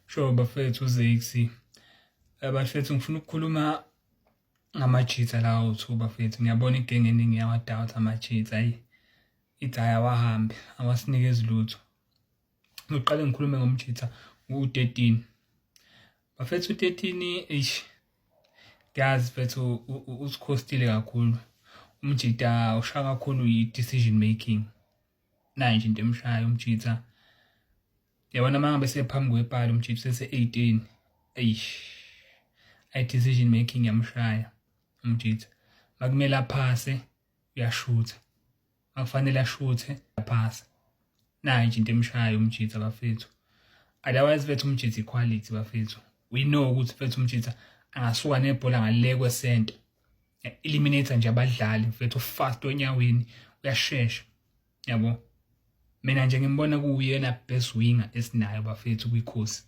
Sure bafethu uZexy. Eh, bafethu ngifuna ukukhuluma ngamajitha lawo two bafethu. Ngiyabona igenge eningi yawadoubt amajitha ayi. Ithi ayawahambe awasinikezi lutho. Ngiqale ngikhulume ngomjitha u-13. Bafethu u-13 eish ngiyazi mfethu usikhostile kakhulu. Umjitha ushaya kakhulu yi-decision making. Nayo nje into emshaya umjitha. yabona uma ngabe sephambi kwepali umchips ese-18 eish i-decision making yamshaya umjitha makumele aphase uyashutha akufanele ashuthe aphase nayo nje into emshayo umjitha bafethu otherwise bethu umjitha iquality bafethu we know ukuthi bethu umjitha angasuka nebhola ngale kwesenta eliminator nje abadlali mfethu fast onyaweni uyashesha yabo mina nje ngimbona kuwuyena best winger esinayo bafethu kwikhosi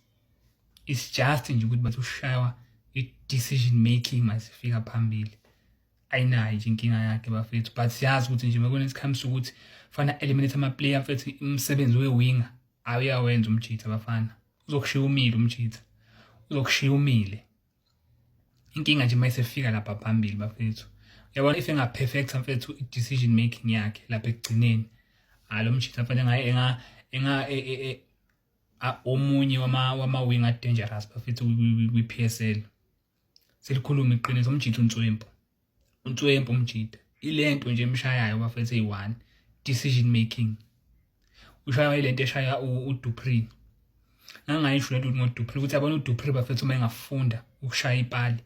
it's just nje ukuthi bathi ushaywa i-decision making masifika phambili ayinayo nje inkinga yakhe bafethu but siyazi ukuthi nje mekona isikhathi sokuthi fana eliminate ama-player mfethu umsebenzi we-winger awuyawenza umjitha bafana uzokushiya umile umjitha uzokushiya umile inkinga nje uma isefika lapha phambili bafethu yabona if engaperfecta mfethu i-decision making yakhe lapha ekugcineni hayi lo mshitha mfethu engaye enga enga e, e, e, omunye wama-wing adangerous bafethu kwi-p s l selikhuluma iqiniso umjitha unswempu uNtswempu umjida ilento nje emshayayo bafethu eyi-one decision making ushaywa ilento eshaya uDupri ngangayisho lento ngoDupri ukuthi abona uDupri bafethu uma engafunda ukushaya ipali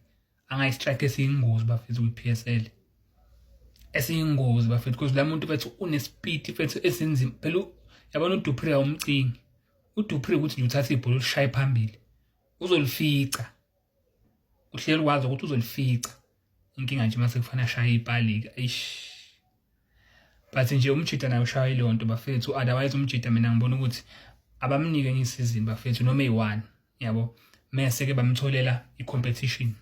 angayistrike esiyingozi bafethu kwi-PSL esiyingozi bafethu because la muntu bethu unespeed bethu esinzima phela yabona uDupri awumcingi uDupri ukuthi nje uthatha ibhola ulishaye phambili uzolifica uhleli wazi ukuthi uzolifica inkinga nje mase kufanele ashaye ipalika eish but nje umjita naye ushaya leyo nto bafethu otherwise umjita mina ngibona ukuthi abamnike enye isizini bafethu noma eyi-one yabo mese-ke bamtholela i-competition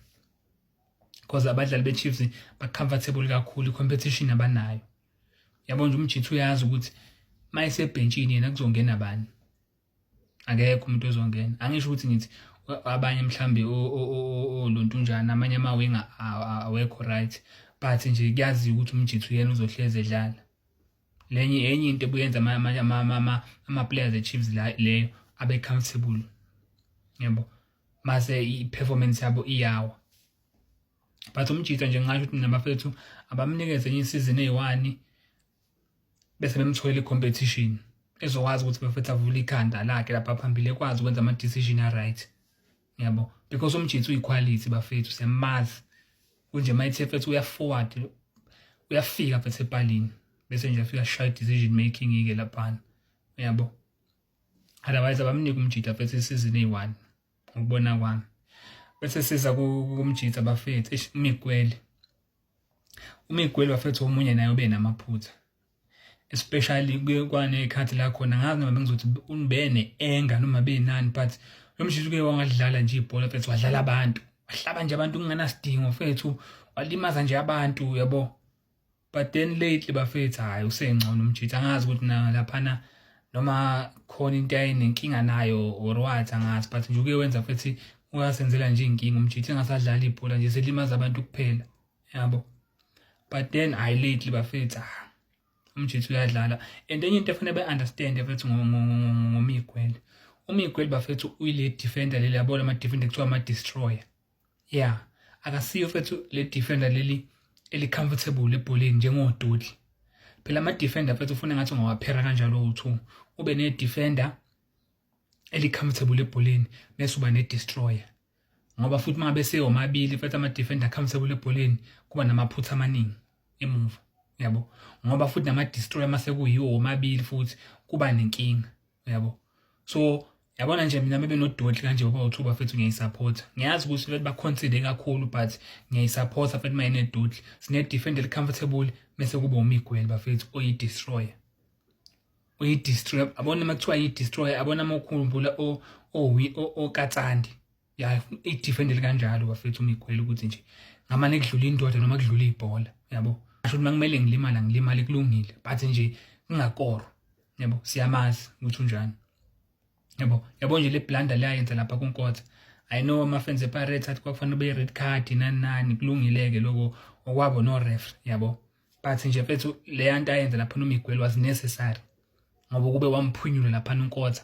because abadlali be-chiefs ba-comfortable kakhulu i-competition abanayo yabo nje umjita uyazi ukuthi uma esebhentshini yena kuzongena bani akekho umuntu ozongena angisho ukuthi ngithi abanye mhlambe olontunjana amanye amawinga awekho right but nje kuyaziwa ukuthi umjithu yena uzohlezi edlala lenye enye into ebuyenza ama-players e-chiefs leyo abe-comfortable yebo mase i-performance yabo iyawa but umjitha nje ngingasho ukuthi nabafethu abamnikeze enye isizini eyi-one bese bemtholela i-competition ezokwazi ukuthi bafethu avule ikhanda lakhe lapha phambili ekwazi ukwenza ama-decision a-right yabo because umjitsi uyiquality bafethu siyamazi kunje uma ithe fethu uyaforward uyafika fethu epalini bese nje afika shaya decision making ike laphana yabo otherwise abamnike umjita fethu isizini eyi-one ngokubona kwami bese siza kumjita bafethu mikwele umigweli bafethu omunye naye ube namaphutha especially kwanekhathi la khona ngazi noma bengizothi unibene enga noma benani but lo mshisi uke wangadlala nje ibhola fethu wadlala abantu wahlaba nje abantu kungenasidingo fethu walimaza nje abantu yabo but then lately bafethu hayi usengcono umjitha angazi ukuthi na laphana noma khona into ayinenkinga nayo or what angazi but nje uke wenza futhi ungasenzela nje inkinga umjithe engasadlali ibhola nje selimaza abantu kuphela yabo but then i lately bafethu ah umjithe uyadlala and enye into efanele be-understand bafethu ngomigwele umigwele bafethu uyile defender leli yabona ama-defender kuthiwa ama-destroyer yeah akasiyo mfethu le defender leli eli comfortable ebholeni njengodudli phela ama defender mfethu ufuna ngathi ungawaphera kanjalo uthu ube ne defender eli comfortable ebholeni bese uba ne destroyer ngoba futhi mangabe seyomabili mfethu ama defender comfortable ebholeni kuba namaphutha amaningi emuva yabo ngoba futhi nama destroyer mase kuyiwo omabili futhi kuba nenkinga uyabo so yabona nje mina bebe nodoti kanje baba uthi bafethu ngiyayisupporta ngiyazi ukuthi bafethu baconsider kakhulu but ngiyayisupporta bafethu uma inedoti sine-defend eli-comfortable bese kuba umigweli bafethu oyi-destroyer uyi-destroyer abona uma kuthiwa yi-destroyer abona ama okhumbula okatsandi ya idefendele kanjalo bafethu umigwela ukuthi nje ngamane kudlula indoda noma kudlula ibhola yabo asho ukuthi makumele ngilimala ngilimale kulungile but nje ngingakoro yabo siyamazi ukuthi unjani yabo yabo nje le blunder leyayenza lapha kunkotha i know ama-fans epirates athi kwakufanele ube-red card nani nani kulungile-ke loko okwabo no-ref yabo but nje mfethu leya nto ayenza lapha nomigweli was necessary ngoba kube wamphunyule lapha unkotha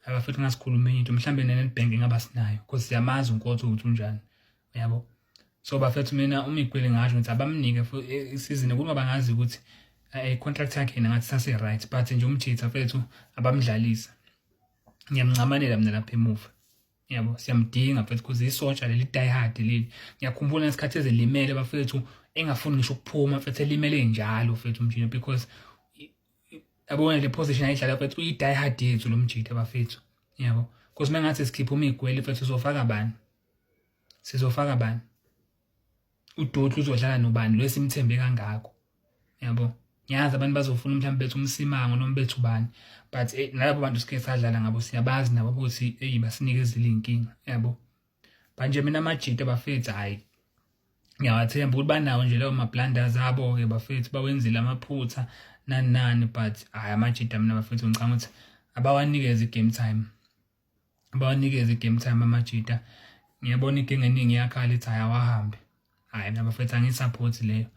abafethu ngasikhuluma enye into mhlawumbe nenedbank ngaba sinayo because siyamazi unkotha ukuthi unjani uyabo so bafethu mina umigweli ngasho ukuthi abamnike e, isizini kuba bangazi ukuthi eh, i-contract yakhe yena ngathi sase-right but nje umjitha fethu abamdlalisa ngiyamncamanela mina lapha emuva yabo siyamdinga mfethu kuze isotsha leli die hard leli ngiyakhumbula ngesikhathi ezelimele bafethu engafuni ngisho ukuphuma mfethu elimele njalo mfethu mjita because yabona le position ayidlala mfethu uyi-die hard yethu lo mjita bafethu yabo because uma ngathi sikhipha umigwele mfethu sizofaka bani sizofaka bani udoti uzodlala nobani lo esimthembe kangako yabo ngiyazi abantu bazofuna mhlawumbe bethu umsimango noma bethu bani but eh, nalabo bantu sike sadlala ngabo siyabazi nabo ukuthi eyi basinike ezile inkinga yabo manje mina amajita bafethu hhayi ngiyawathemba ukuthi banawo nje leyo mablunders abo-ke bafethu bawenzile amaphutha nani nani but hhayi amajita mina bafethu ngicanga ukuthi abawanikeze i-game time bawanikeze i-game time amajita ngiyabona inkinga eningi iyakhala ithi hhayi awahambe hhayi mina bafethu angiyi-support leyo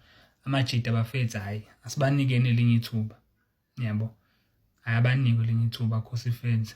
amajita bafethu hhayi asibanikeni elinye ithuba yabo hhayi abanikwe elinye ithuba khosi fenza